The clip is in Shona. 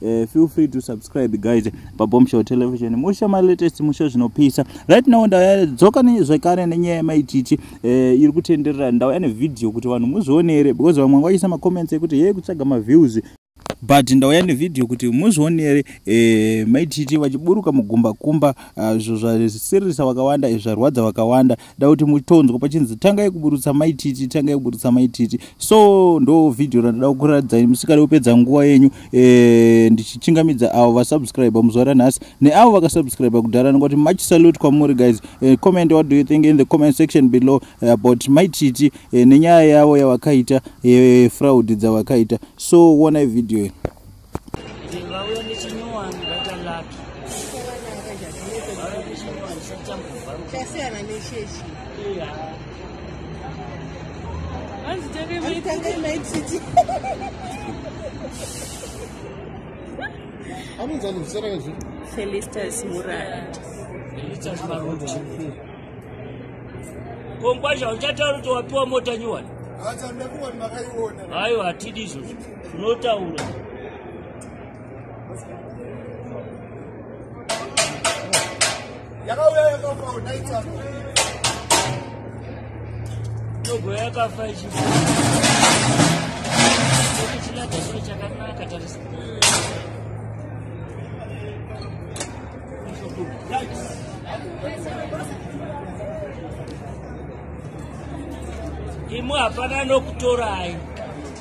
Uh, feel free to subscribe guys pabombshell television musha my latest musha zvinopisa right now ndadzoka zvekare nenyaya yemaititi uh, eh, iri kutenderera ndauya nevideo kuti vanhu muzvionere because vamwe vaisa macomments ekuti yee kutsvaga maviews but ndauya nevideo kuti muzvionere eh, maititi vachiburuka mugumbakumba ah, izvo uh, zvasiririsa vakawanda izvo zvarwadza vakawanda ndakuti mutonzwa pachinzi tangai kuburutsa maititi tangai kuburutsa maititi so ndo vhidhiyo randida kukuratidzai musikada kupedza nguva yenyu e, ndichichingamidza avo vasubscribe muzuva ranhasi neavo vakasubscribe kudhara nekuti much salute kwamuri guys e, comment what do you think in the comment section below eh, about maititi e, nenyaya yavo yavakaita e, fraud dzavakaita so wonai vhidhiyo iyi vauya nechinyowani vata laki chasiyana nechechi hanzi tange maititi anonzi anozvisara kazvi felistas muraya felistas maruti kongwazha uchataura kuti wapiwa mota nyuwani aiwa hatidi izvozvo zvinotaura yakauya yakafa unaita ndogo yakafa ichifa chilaga chiro chakanaka tarisa imwe hapana nokutorai